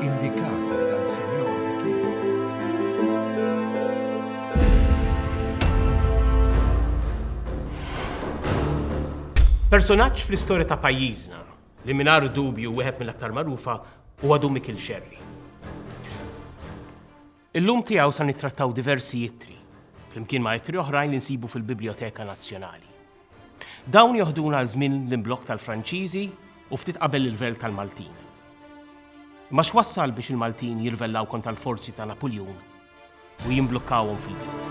indikati dan sinjor li kien Personaġġ fl-istorja ta' pajjiżna li mingħajr dubju wieħed mill-aktar magħrufa huwa Dumi Kilxerri. Illum tiegħu sa nittrattaw diversi ittri, flimkien ma' ittri oħrajn li nsibu fil-Bibljoteka Nazzjonali. Dawn joħduna għal żmien l-imblokk tal-Franċiżi u ftit qabel l-irvell tal-Maltin. Imma x'wassal biex il-Maltin jirvellaw kontra l-forzi ta' Napuljun u jimblukkawhom fil-belt.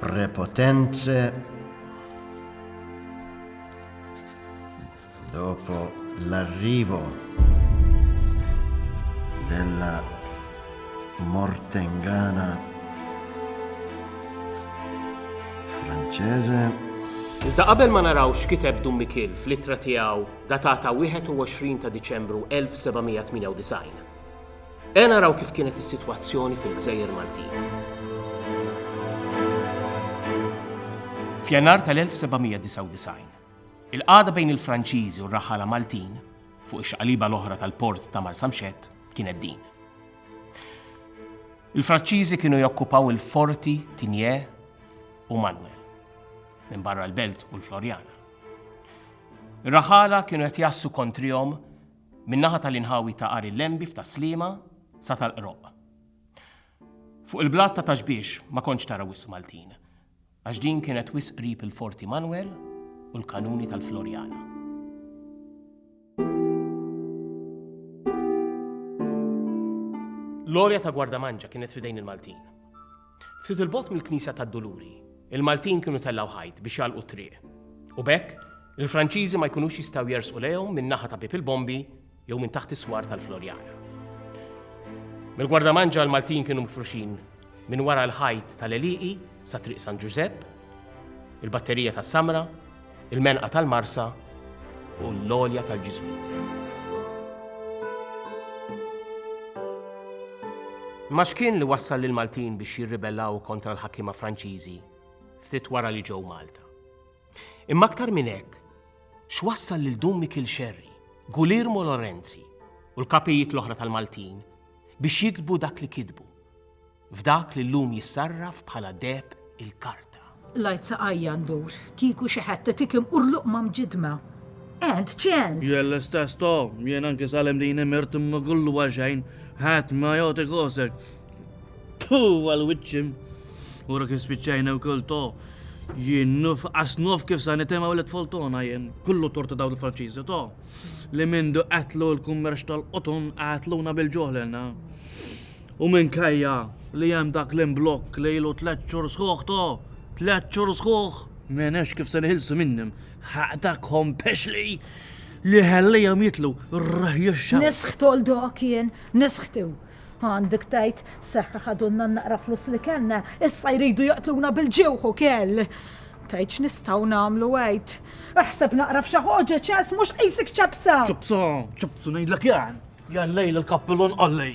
Prepotenze dopo l'arrivo della Mortengana Francese. Iżda qabel ma naraw x'kiteb Dum Mikil fl-ittra tiegħu datata 21 ta' Diċembru 1798. Ejja naraw kif kienet is-sitwazzjoni fil-gżejjer Maltin. F'Jannar tal-1799, il-qagħda bejn il-Franċiżi u r-raħħala Maltin fuq ix-xaqliba l-oħra tal-port ta' Marsamxett kienet din. Il-Franċiżi kienu jokkupaw il-forti Tinje u Manuel minn barra l-Belt u l-Florjana. Ir-raħħala kienu qed jassu kontrihom min-naħa tal-inħawi ta' Għar il-Lembi f'Tas-Sliema sa tal-Qroqq. Fuq il-blat ta' Taxbiex ma kontx tara wisq Maltin, għax din kienet wisq qrib il-Forti Manwel u l-Kanuni tal-Floriana. L-għorja ta' Gwardamanġa kienet f'idejn il-Maltin. Ftit 'il bogħod mill-Knisja tad-Duluri, il-Maltin kienu tellgħu ħajt biex jagħlqu t-triq. U b'hekk, il-Franċiżi ma jkunux jistgħu jersqu lejhom min-naħa ta' Bieb il-Bombi jew minn taħt is-swar tal-Floriana. Mill-Gwardamanġa l-Maltin kienu mifruxin minn wara l-ħajt tal-għelieqi sa Triq San Ġużepp, il-batterija tas-samra, il-menqa tal-marsa u l-għolja tal-ġismiet. Imma x'kien li wassal lill-Maltin biex jirribellaw kontra l-ħakkiema Franċiżi ftit wara li ġew Malta? Imma aktar minn hekk, x'wassal lil Dun Mikil Xerri, Gulirmo Lorenzi u l-kapijiet l-oħra tal-Maltin biex jiktbu dak li kitbu? F'dak li llum jissarraf bħala deheb il-karta. L-għid saqajja ndur, kieku xi ħadd itik imqurluq ma' mġiddma. And chance! Jien l-istess to, jien anki sal-imdini mirt imma kollu għal xejn, ħadd ma jagħti kosek. Tu għal wiċċi. Ura kif spiċċajna wkoll to, jien nuf asnuf kif sa nitemaw li tfoltona jien, kullu torta daw il-Franċiżi to, li mindu qatlu l-kummerċ tal-qotun qatluna bil-ġoħlena. U minkejja li hemm dak l-imblokk li ilu tliet xhur sħuħ to, tliet xhur sħuħ, m'għenekx kif se niħilsu minnhom. Ħaqdakhom pexli li ħallihom jitlu rrehjexxa. Nisħ toldok jien, nisħtu. Għandek tgħid seħħ ħadulna n-naqra flus li kellna, issa jridu jaqtluna bil-ġewħ ukoll. Tgħid x'nistgħu nagħmlu għid. Eħseb naqra f'xi ħoġeġ, ess, mhux qisek ċapsa! Ċapsa, ċapsa ngħidlek jien. Jallej l kappilun qollej.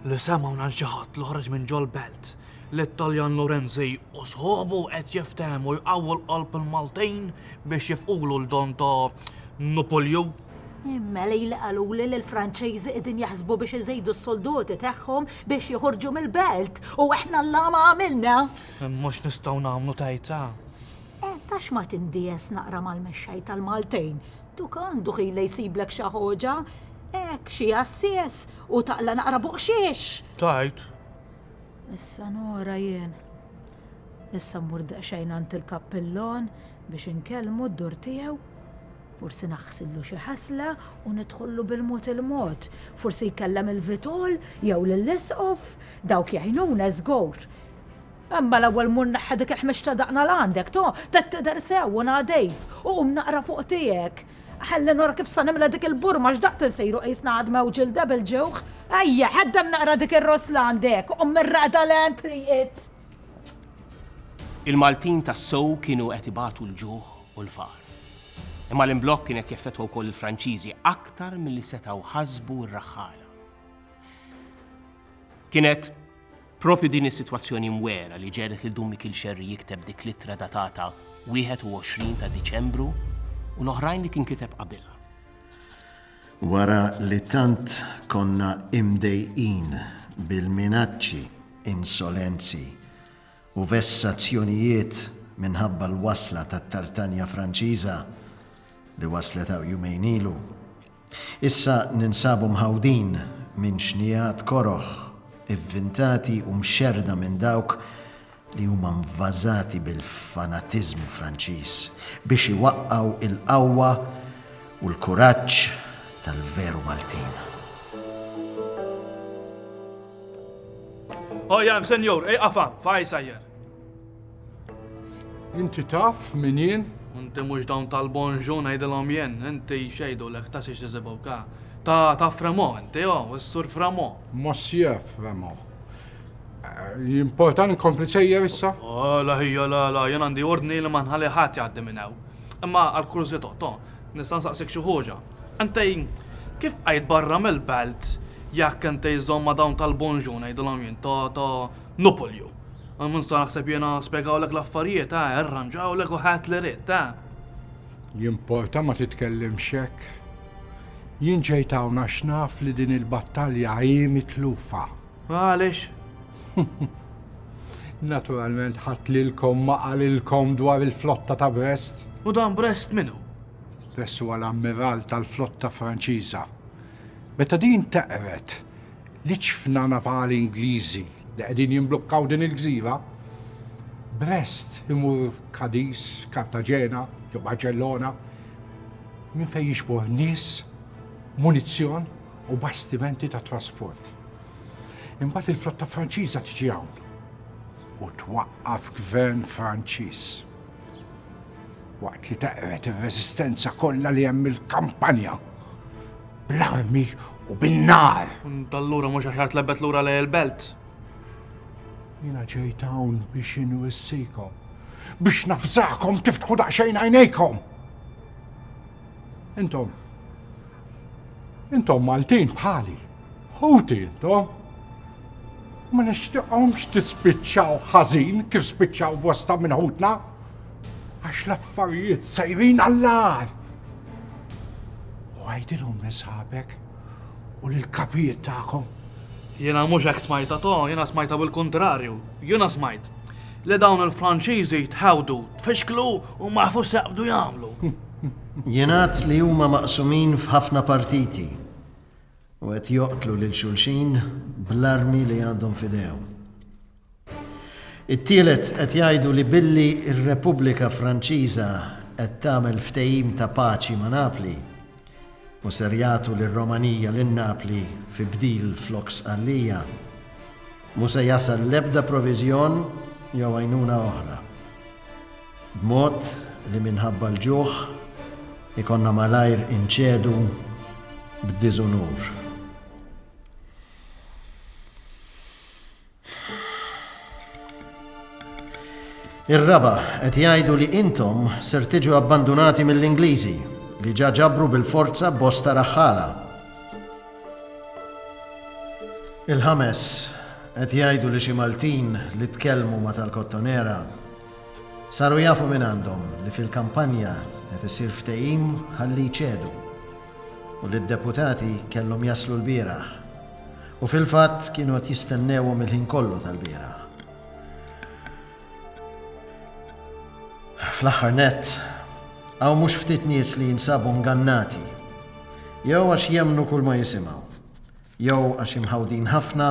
Li semaw nan xaħat li ħarġ minn ġol belt li t-Taljan Lorenzi u sħobu qed jiftehmu jqawwu l-qalb il-Maltin biex jifqulu l-don ta' Nupolju. Imma li li qalu li l-Franċiżi qegħdin jaħsbu biex iżejdu s-soldoti tagħhom biex joħorġu mill-belt u aħna l-lama għamilna. Mhux nistgħu nagħmlu tajta. Eh, tax ma tindies naqra mal-mexxej tal-Maltejn, duk għandu ħila jsiblek xa ħoġa, hekk xi għassies u taqla naqra buqxiex! Tajt! Issa nora jien. Issa mmur daqsxejn għand il-kappillon biex inkellmu d-dur tiegħu. Forsi naħsillu xi ħasla u nidħollu bil-mod il-mod. Forsi jkellem il-vitol jew lill-isqof, dawk jgħinuna żgur. Imma l-ewwel mur neħħi dik il-ħmix ta' daqna 'l għandek, to, te tidher sew u nadif, u qum naqra fuq tiegħek. Ħalli nura kif sa nimla dik il-burma x'daqt insiru qisna għadma u ġilda bil-ġewħ. Ejja, ħaddem naqra dik ir-ross 'l għandek, u qum mir-raqda 'l għand triqit. Il-Maltin tassew kienu qed ibatu l-ġuħ u l-faqar. Imma l-imblokk kien qed jeffettwa wkoll il-Franċiżi aktar milli setgħu ħasbu r-raħħala. Kienet. Proprju din is-sitwazzjoni mwera li ġegħlet lil Dun Mikiel Scerri jikteb dik l-ittra datata 21 ta' Diċembru u l-oħrajn li kien kiteb qabilha. Wara li tant konna imdejqin bil-minaċċi, insolenzi u vessazzjonijiet minħabba l-wasla tat-Tartanja Franċiża li waslet hawn jumejn ilu, Issa ninsabu mħawdin minn xnigħat koroh, ivvintati u mxerrda minn dawk li huma mvażati bil-fanatiżmu Franċiż biex iwaqqgħu l-qawwa u l-kuraġġ tal-veru Maltin. Oh, jam, senjur, ej, għafam, fajsa jer. Inti taf min jien? Inti mhux dawn tal-bonġu ngħidilhom jien, inti x'għidulek ta' xiex iżibgħu ka. Ta' ta' Fremo inti, o, is-Sur Fremo. Mossier Fremo. Jimportan inkompli sejjer issa? Oh, la ħija la la, jien għandi ordni li ma nħalli ħadd jgħaddi minn hawn. Imma għal kurżità, to, nista' nsaqsik xi ħuġa. Inti kif bqajt barra mill-belt jekk inti żżomm ma' dawn tal-bonġu ngħidilhom jien, ta' ta' Nupolju, Għal minn sta naħseb jiena spjegawlek l-affarijiet, eh, irranġawlek u ħadt li ridt, eh. Jimporta ma titkellimx hekk. Jien ġejt hawn għax naf li din il-battalja hi mitlufa. Għaliex? Naturalment ħadd lilkom ma qalilkom dwar il-flotta ta' Brest. U dan Brest minnu? Brest huwa l-ammiral tal-flotta Franċiża. Meta din teqret, L-iċfna navali Ingliżi li qegħdin jimblukkaw din il-gżira, Brest imur Cadiz, Cartagena jew Barċellona, minn fejn jiġbor nies, munizzjon u bastimenti tat-trasport. Imbagħad il-flotta Franċiża tiġi hawn u twaqqaf gvern Franċiż waqt li teqred ir-reżistenza kollha li hemm mill-kampanja. bl-armi u bin-nar. Dallura mhux aħjar tlebbet lura lej il-belt. Jiena ġejt hawn biex inwissikom, biex nafżakom tiftħu daqsxejn għajnejkom. Intom, intom Maltin bħali, ħuti intom. Ma nixtiqhomx tispiċċaw ħażin kif spiċċaw bosta minn ħutna. għax l-affarijiet sejrin għall-għar. U għajdilhom li sħabek u lil kapijiet tagħkom. Jiena mhux hekk smajta to, jiena smajta bil-kuntrarju. Jiena smajt li dawn il-Franċiżi tħawdu, tfixklu u ma jafu seqbdu jagħmlu. Jingħad li huma maqsumin f'ħafna partiti u qed joqtlu lil xulxin bl-armi li għandhom fidejhom. It-tielet qed jgħidu li billi r-Repubblika Franċiża qed tagħmel ftehim ta' paċi ma' Napli u ser jagħtu lir-Romanija lil Napli fi bdil flok Sqallija, mhu se jasal l-ebda proviżjon jew għajnuna oħra. B'mod li minħabba l-ġuħ ikonna malajr inċedu b'diżunur. Ir-raba' qed jgħidu li intom ser tiġu abbandunati mill-Ingliżi li ġa ġabru bil-forza bosta raħħala. Il-ħames qed jgħidu li xi Maltin li tkellmu ma' tal-Kottonera saru jafu minn għandhom li fil-kampanja qed isir ftehim ħalli jċedu. u li d-deputati kellhom jaslu lbieraħ u fil-fatt kienu qed jistennewhom il-ħin kollu tal-bieraħ. Fl-aħħar nett, hawn mhux ftit nies li jinsabu ngannati jew għax jemnu kull ma jisimgħu, jew għax imħawdin ħafna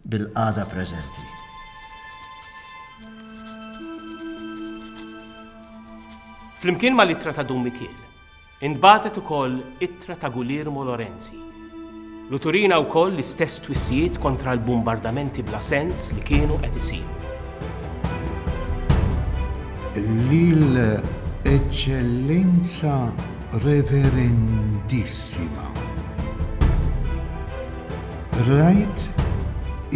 bil-qada preżenti. Flimkien ma' litra ta' Dun Mikiel, Intbagħtet ukoll ittra ta' Guglielmo Lorenzi lu turina wkoll l-istess twissijiet kontra l-bumbardamenti bla sens li kienu qed isiru. Lil Eċċellenza Reverendissima. Rajt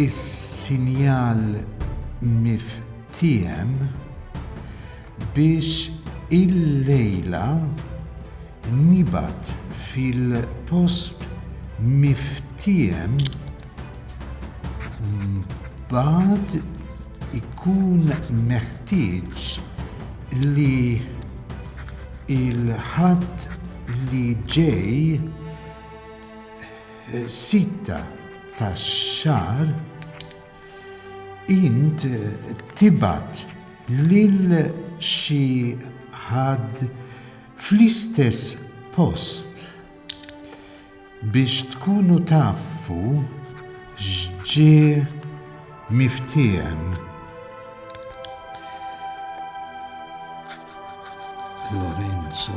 is-sinjal miftiehem Biss illejla nibgħat fil-post miftiehem mbagħad ikun meħtieġ li l-Ħadd li ġej sitta tax-xahar, Int tibgħat lil xi ħadd fl-istess post biex tkunu tafu x'ġie miftiehem. Lorenzo.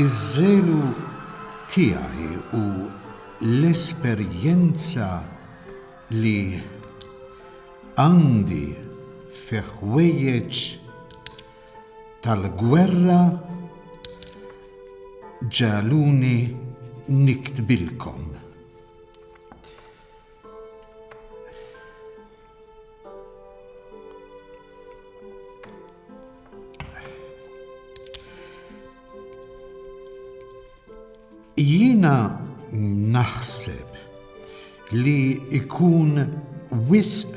Iż-żelu tiegħi u l-esperjenza li għandi fi ħwejjeġ tal-gwerra ġaluni niktbilkom. Jiena naħseb li ikun wisq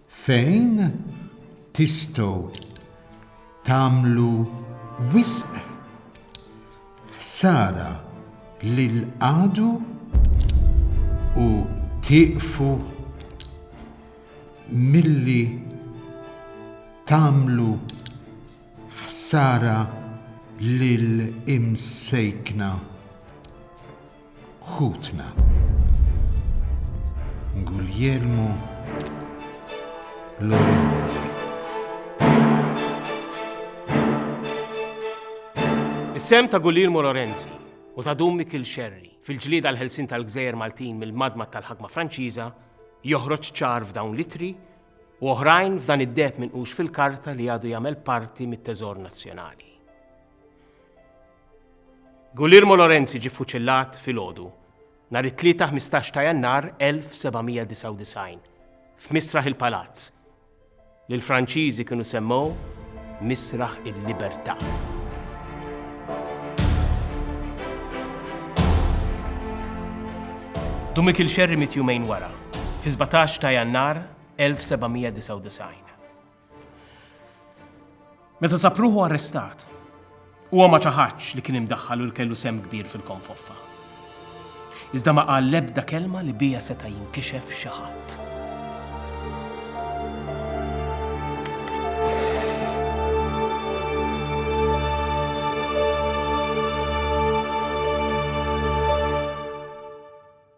Fejn tistgħu tagħmlu wisq ħsara lil għadu u tieqfu milli tagħmlu ħsara lill-imsejkna. Ħutna. Guglielmo Lorenzi. Is-sem ta' Guglielmo Lorenzi u ta' Dum Mikil Xerri fil-ġlieda l-ħelsin tal-gżejjer Maltin mill-madma tal-ħakma Franċiża joħroġ ċar f'dawn litri u oħrajn f'dan id-deb minqux fil-karta li għadu jagħmel parti mit-teżor nazzjonali. Guglielmo Lorenzi ġie ffuċillat filgħodu nhar it-Tlieta 15 ta' Jannar 1799 f'Misraħ il-Palazz, li l-Franċiżi kienu semmew Misraħ il-Libertà. Dumikil Scerri miet jumejn wara, fi 17 ta' Jannar 1799. Meta sab ruħu arrestat, huwa ma ċaħadx li kien imdaħħal u li kellu sem kbir fil-konfoffa. Iżda ma qal l-ebda kelma li bija seta' jinkixef xi ħadd.